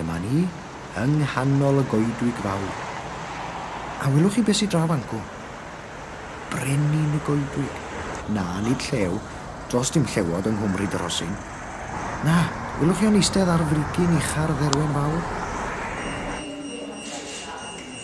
Dyma ni, yng nghanol y goedwig fawr. A welwch chi beth sy draw fan'cw? Brenin y goedwig. Na, nid llew. Does dim llewod yng Nghwmryd y Rhosyn. Na, welwch chi o'n eistedd ar frigyn ucha'r dderwen fawr?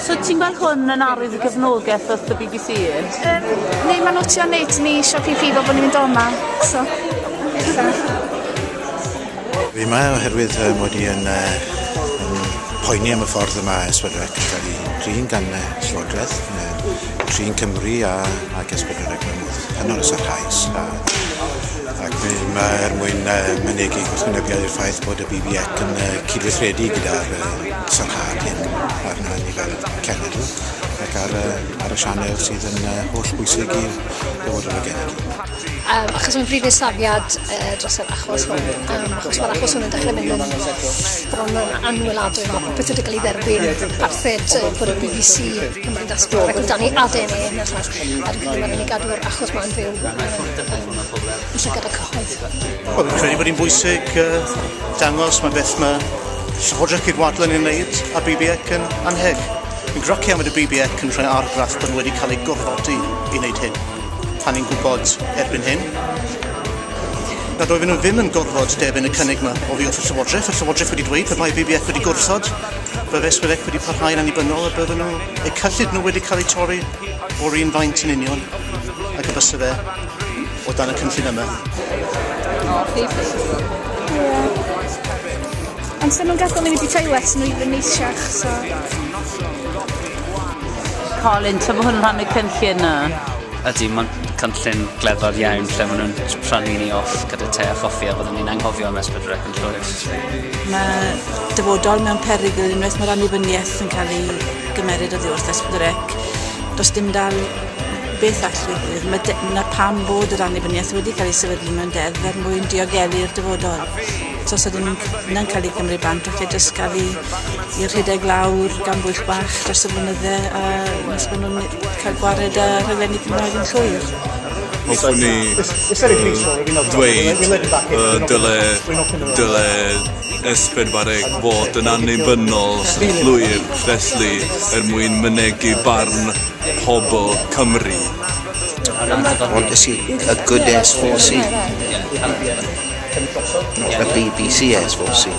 So ti'n gweld hwn yn arwydd y gefnogaeth wrth y BBC? Um, neu mae'n notio nid ni eisiau prif fod bod ni'n mynd o'ma. So, Fi yma oherwydd uh, mod i yn, uh, yn poeni am y ffordd yma mae Esbydrec yn cael ei drin gan uh, Llywodraeth, uh, trin Cymru a, a Gesbydrec mewn modd hynod o sarhaus. A, ac fi yma er mwyn uh, mynegu gwrthwynebiad i'r ffaith bod y BBEC yn uh, cydweithredu gyda'r uh, Sicrhad hyn ar na nifer y cenedl ac ar y, ar y sianel sydd yn uh, holl bwysig i'r dyfodol y genedl. Um, achos mae'n brif safiad uh, dros yr achos hwn, um, achos mae'r achos hwn yn dechrau mynd yn bron yn anwyladwy, mae popeth wedi cael ei dderbyn, parthed uh, bod y BBC yn mynd asgwrdd ac amdani ADN yn y llall, a dwi'n credu mae'n ei gadw'r achos mae'n fyw. Llygad y cyhoedd. Wel, fi'n credu bod hi'n bwysig uh, dangos mae beth mae Llywodraeth Cydwadlen yn wneud a BBEC yn anheg. Fi'n groci am y BBEC yn rhoi argraff bod nhw wedi cael eu gorfodi i wneud hyn. Pan ni'n gwybod erbyn hyn, na doedden nhw ddim yn gorfod derbyn y cynnig yma o fi wrth y Llywodraeth. Y Llywodraeth wedi dweud pe bai BBEC wedi gwrthod, fe feswydec wedi parhau yn annibynnol a bydden nhw, eu cyllid nhw wedi cael eu torri o'r un faint yn union ac y bys fe O dan y cynllun yma. O, chi plîs. Ie. Ond sy'n nhw'n gadael ni wedi toilet nhw i fy neisiach, so... Colin, ta fo hwn rhan y cynllun yna? Ydy, mae'n cynllun gledfawr iawn lle maen nhw'n rhannu ni off gyda te a choffi a byddwn ni'n anghofio am esbydrec yn llwyr. Mae dyfodol mewn perygl unwaith mae'r annibyniaeth yn cael ei gymeryd oddi wrth esbydrec. Does dim dal Beth all ddigwydd? Mae de- 'na pam bod yr annibyniaeth wedi cael ei sefydlu mewn deddf er mwyn diogelu'r dyfodol. So os ydyn nhw'n c- na'n cael eu cymryd bant falle jyst cael eu i rhedeg lawr gan bwyll bach dros y blynydde a nes bod nhw'n ne- cael gwared â rhaglenni Cymraeg yn llwyr. Hoffwn i yy dweud yy dyle dyle S4C fod yn annibynnol sy'n llwyr felly er mwyn mynegi barn pobl Cymru. Ond es i a good es fos i. Not a BBC es fos i.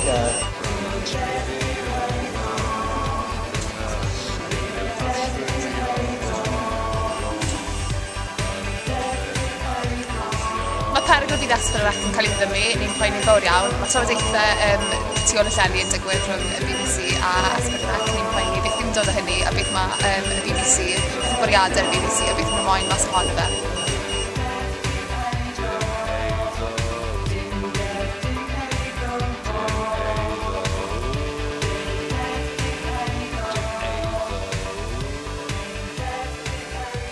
Mae perygl didesgwyl yr ac yn cael ei ddiddymu, ni'n poeni'n fawr iawn. Mae trafodaethau yym tu ôl y llenni yn digwydd rhwng y bbc a Ysbyddyden ac ni'n poeni beth yw'n dod o hynny a beth mae yym y bbc, beth yw bwriadau y bbc a beth mae moyn mas ohono fe.